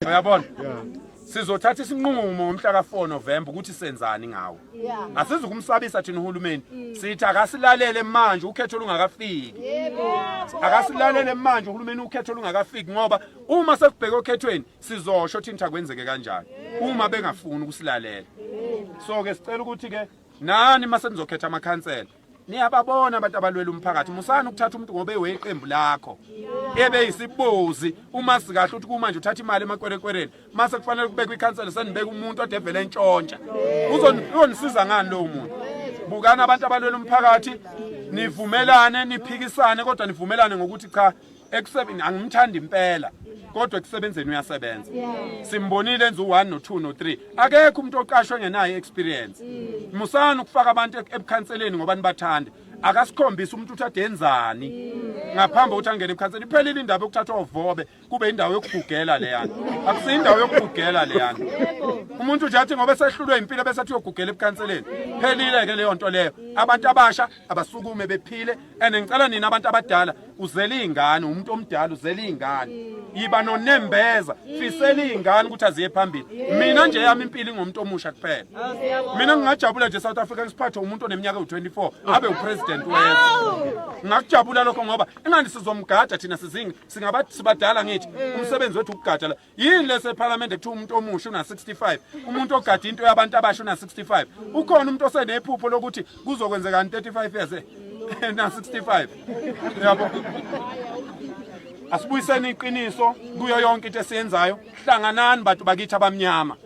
uyabona sizothatha isinqumo ngomhla ka-4 November ukuthi senzani ngawo asizi kumsabisa thina uhulumeni mm. sithi akasilalele manje ukhetho lungakafiki akasilalele manje uhulumeni ukhetho lungakafiki ngoba uma sekubheke okhethweni sizosho thina akwenzeke kanjani uma bengafuni ukusilalela so ke sicela ukuthi ke nani mase nizokhetha amakhansela Niyababona abantu abalwela umphakathi musani ukuthatha umuntu ngoba eweqembu lakho ebe isibozi uma sikahle ukuthi kumanje uthatha imali emakwerekwereni mase kufanele kubekwe ikhansela senibeka umuntu odevele entshontsha uzonisiza ngani lowo muntu bukani abantu abalwela umphakathi nivumelane niphikisane kodwa nivumelane ngokuthi cha ekusebenzini angimthandi impela kodwa ekusebenzeni uyasebenza simbonile enza u1 no 2 no 3 akekho umuntu oqashwe ngenayo experience musani ukufaka abantu ebukhanseleni ngoba nibathanda akasikhombisa umuntu uthi adenzani ngaphambi ukuthi angene ebukhanseleni iphelile indaba yokuthathwa uvobe kube indawo yokugugela leyana akusiyo indawo yokugugela leyana umuntu nje athi ngoba esehlulwe impilo bese athi uyogugela ebukhanseleni phelile ke leyo nto leyo abantu abasha abasukume bephile and ngicela nina abantu abadala uzela izingane umuntu omdala uzela izingane yiba nonembeza fisela izingane ukuthi aziye phambili mina nje yami impilo ingomuntu omusha kuphela oh, mina ngingajabula nje South Africa ngisiphathe umuntu oneminyaka u24 abe upresident wezwe ngakujabula lokho ngoba ingani sizomgada thina sizingi singabathi sibadala ngithi umsebenzi wethu ukugada yini lese parliament ekuthiwa umuntu omusha una 65 umuntu ogada into yabantu abasha una 65 ukhona umuntu osenephupho lokuthi kuzokwenzeka 35 years eh? na 65 yabo asibuyiseni iqiniso kuyo yonke into esiyenzayo hlanganani bantu bakithi abamnyama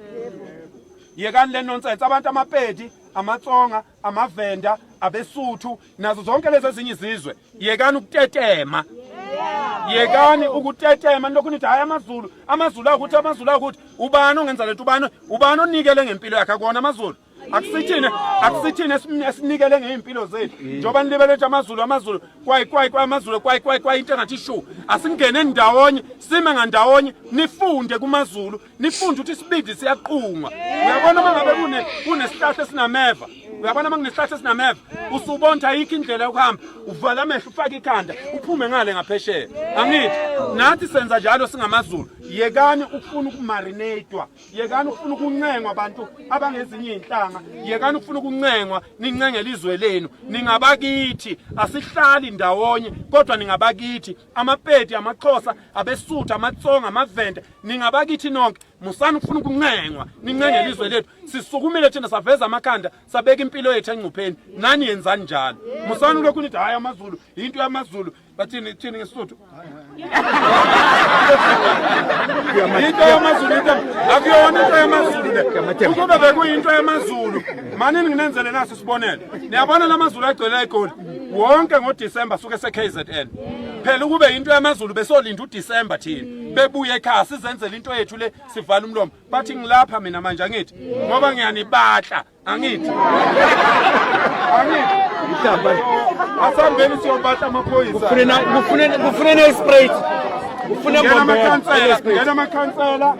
yekani le nonsense abantu amapedi amatsonga amavenda abesuthu nazo zonke lezi ezinye izizwe yekani ukutetema yekani ukutetema nilokhu nithi hayi amazulu amazulu akuthi amazulu akuthi ubani ongenza lento ubani ubani onikele ngempilo yakhe akona amazulu akusithine akusithine esinikele ngey'mpilo zethu njengoba nilibele ukuthi amazulu amazulu kwayi kwayi kwayi amazulu kwayi kwayi kwayi into engathi shu asingene ndawonye sime ngandawonye nifunde kumazulu nifunde ukuthi isibindi siyaqunga uyabona uma ngabe kune kunesihlahla esinameva uyabona uma kunesihlahla esinameva usubonta ayikho indlela yokuhamba uvala amehlo ufake ikhanda uphume ngale ngaphesheya angithi nathi senza njalo singamazulu yekani ukufuna ukumarinatwa yekani ukufuna ukuncengwa abantu abangezinye izinhlanga yekani ukufuna ukuncengwa nincengele izwe lenu ningabakithi asihlali ndawonye kodwa ningabakithi amapedi amaxhosa abesuthu amatsonga amavende ningabakithi nonke musani ukufuna ukuncengwa nincenge elizwe lethu sisukumile thina saveza amakhanda sabeka impilo yethu engcupheni nani yenzani njalo musani lokhu nithi hayi amazulu yinto yamazulu bathini thini ngesisuthu into yamazulu into akuyona into yamazulu le ukuba bekuyinto yamazulu manini nginenzele naso isibonelo niyabona lamazulu agcwele egoli wonke ngoDisemba suke seKZN phela ukube into yamaZulu besolinda uDisemba thina bebuye ekhaya sizenzele into yethu le sivala umlomo bathi ngilapha mina manje angithi ngoba ngiyanibatla angithi angithi mhlamba asambeni siyobatla amaphoyisa kufunena kufunena kufunena ispray kufunena amakhansela ngena amakhansela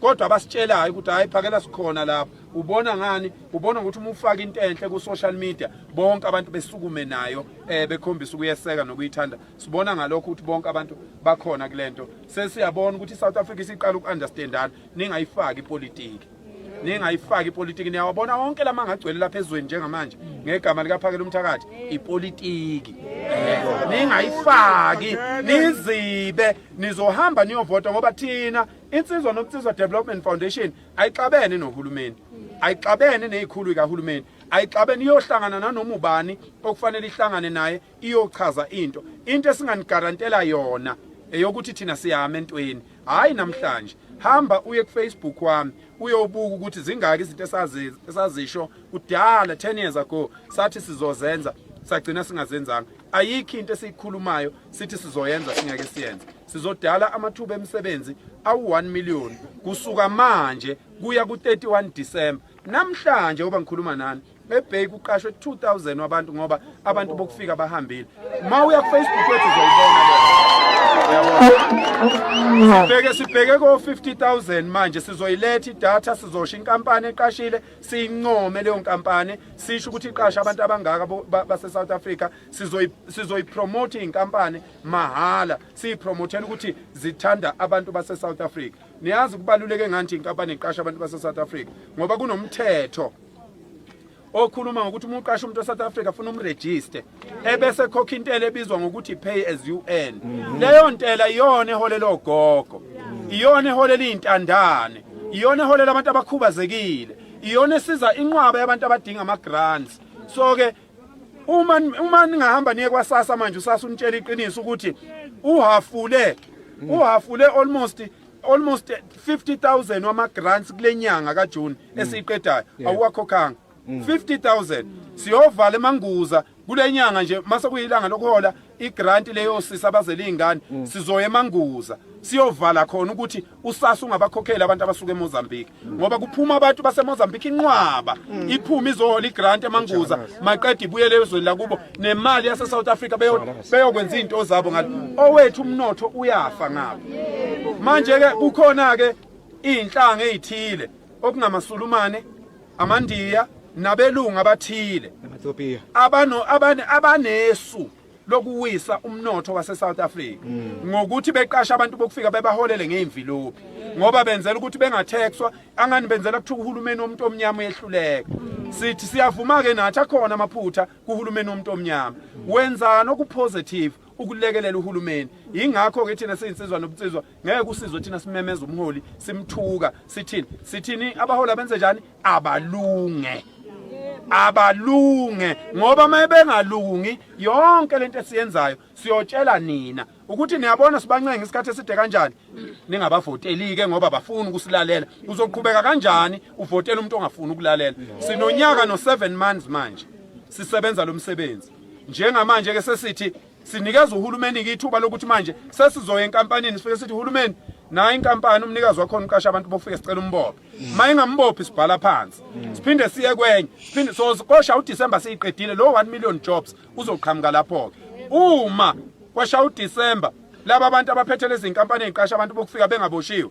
kodwa abasitshelayo ukuthi hayi phakela sikhona lapho ubona ngani ubona ukuthi uma ufaka into enhle ku social media bonke abantu besukume nayo eh bekhombisa ukuyeseka nokuyithanda sibona ngalokho ukuthi bonke abantu bakhona kulento sesiyabona ukuthi iSouth Africa isiqala ukuunderstandana ningayifaki ipolitiki ningayifaki ipolitiki niyawabona wonke lama ngagcwele lapha ezweni njengamanje ngegama likaphakela umthakathi ipolitiki ningayifaki nizibe nizohamba niyovota ngoba thina Insizwa Nobunsizwa Development Foundation ayixabene nohulumeni ayixabene nezikhulu kahulumeni ayixabene iyohlangana nanoma ubani okufanele ihlangane naye iyochaza into into esinganigarantela yona eyokuthi thina siyama entweni hayi namhlanje hamba uye kufacebook wami uyobuka ukuthi zingaki izinto esazisho kudala 10 years ago sathi sizozenza sagcina singazenzanga ayikho into esiyikhulumayo sithi sizoyenza singeke siyenze Sizodala amathuba emisebenzi awu-1 million kusuka manje kuya ku-31 December. Namhlanje oba ngikhuluma nani eBay kuqashwe 2000 wabantu ngoba abantu bokufika bahambile. Ma uya kuFacebook wethu uzoyibona leyo. Sibheke sibheke ko 50000 manje sizoyiletha idatha sizosho inkampani eqashile siyincome leyo nkampani sisho ukuthi iqasha abantu abangaka base South Africa sizoyipromotha iy'nkampani mahhala siyipromothela ukuthi zithanda abantu base-south africa niyazi kubaluleke ngani nje inkampani iqasha abantu base-south africa ngoba kunomthetho okhuluma ngokuthi uma uqasha umuntu e-south africa afuna umrejiste ebese khokha intela ebizwa ngokuthi pay as you earn mm-hmm. leyo ntela iyona eholela ogogo iyona eholela iy'ntandane iyona eholela abantu abakhubazekile iyona esiza inqwaba yabantu abadinga ama-grants so-ke uma uma ningahamba niye kwasasa manje usasa unitshela iqiniso ukuthi uhafule mm. uhafule almost almost 50000 wama grants kulenyanga ka June mm. esiqedayo awuwakhokhanga 50000 mm. siyovala emanguza kulenyanga nje mase kuyilanga lokuhola igranti leyosisa abazela iy'ngane mm. sizoya emanguza siyovala khona ukuthi usasa ungabakhokheli abantu abasuka emozambique mm. ngoba kuphuma abantu basemozambique inqwaba mm. iphuma izohola igranti emanguza maqeda ibuyele ezweni lakubo nemali yasesouth africa beyokwenza iy'nto zabo ngalo owethu umnotho uyafa ngabo manje-ke kukhona-ke iy'nhlanga ey'thile okungamasulumane amaNdiya nabelungu abathile namaTopiya abano abane abanesu lokuwisa umnotho waseSouth Africa ngokuthi beqasha abantu bokufika bebaholele ngeimvilophi ngoba benzela ukuthi bengathexwa angani benzela ukuthi uhulumeni womuntu omnyama uyehluleka sithi siyavuma ke nathi akhona amaphutha kuhulumeni womuntu omnyama wenzana okupositive ukulekelela uhulumeni ingakho ke thina siyinsizwa nobunsizwa ngeke usizwe thina simemeza umholi simthuka sithini sithini abaholi abenze njani abalunge abalunge ngoba mayebengalungi yonke lento esiyenzayo siyotshela nina ukuthi niyabona sibancenga isikhathi eside kanjani ningabavoteli ke ngoba bafuni ukusilalela uzoqhubeka kanjani uvotela umuntu ongafuni ukulalela sinonyaka no 7 months manje sisebenza lo msebenzi njengamanje ke sesithi Sinikeza uhulumeni-ke ithuba lokuthi manje sesizoya enkampanini sifike sithi hulumeni nayo inkampani umnikazi wakhona uqasha abantu bofike sicela umbophe uma ingambophi sibhala phansi siphinde siye kwenye siphinde so kosha uDecember siyiqedile lo 1 million jobs uzoqhamuka lapho-ke uma kwasha uDecember laba bantu abaphethe lezi nkampani eziqasha abantu bokufika bengaboshiwe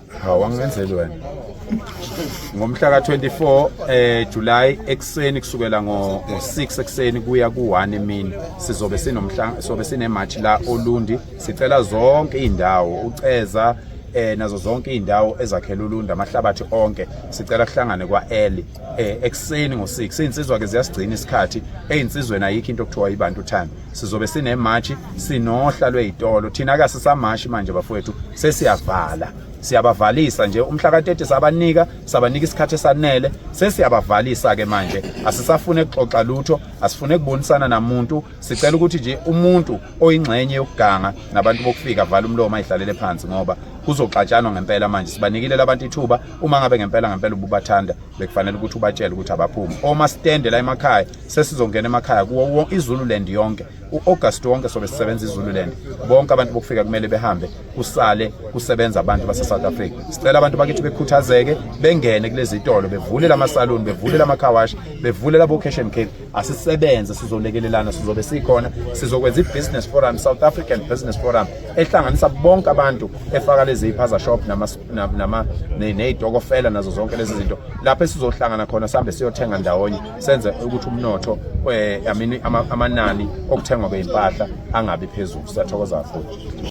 hawu angenzeli wena ngomhla ka-24 eh July ekuseni kusukela ngo-6 ekuseni kuya ku-1 emini sizobe sinomhla sobe sinematch la oLundi sicela zonke izindawo uceza eh nazo zonke izindawo ezakhela uLundi amahlabathi onke sicela kuhlangane kwa-early eh ekuseni ngo-6 izinsizwa ke ziyasigcina isikhathi ezinsizweni ayikho into okuthiwa ibantu time sizobe sinemashi sinohla lweyitolo thina ke sisamashi manje bafowethu sesiyavala siyabavalisa nje umhla ka-30 sabanika sabanika isikhathi esanele sesiyabavalisa-ke manje asisafune kuxoxa lutho asifune kubonisana namuntu sicela ukuthi nje umuntu oyingxenye yokuganga nabantu bokufika avala umlomo ayidlalele phansi ngoba kuzoxatshanwa ngempela manje sibanikile labantu ithuba uma ngabe ngempela ngempela ububathanda bekufanele ukuthi ubatshele ukuthi abaphume oma stende la emakhaya sesizongena emakhaya kuwo izululand yonke u-august wonke sobe sisebenza izululand bonke abantu bokufika kumele behambe kusale kusebenza abantu basesouth africa sicela abantu bakithi bekhuthazeke bengene kulezi tolo bevule lamasaluni bevule lamakhawashi bevule labo-cashion cake asisebenze sizolekelelana sizobe sikhona sizokwenza i-business forum south african business forum ehlanganisa bonke abantu efaka lezi iphaza shop ney'tokofela nazo zonke lezi zinto lapho esizohlangana khona sihambe siyothenga ndawonye senze ukuthi umnotho eh, amanani okuthengwa kwey'mpahla angabi phezulu siyathokoza kakhulu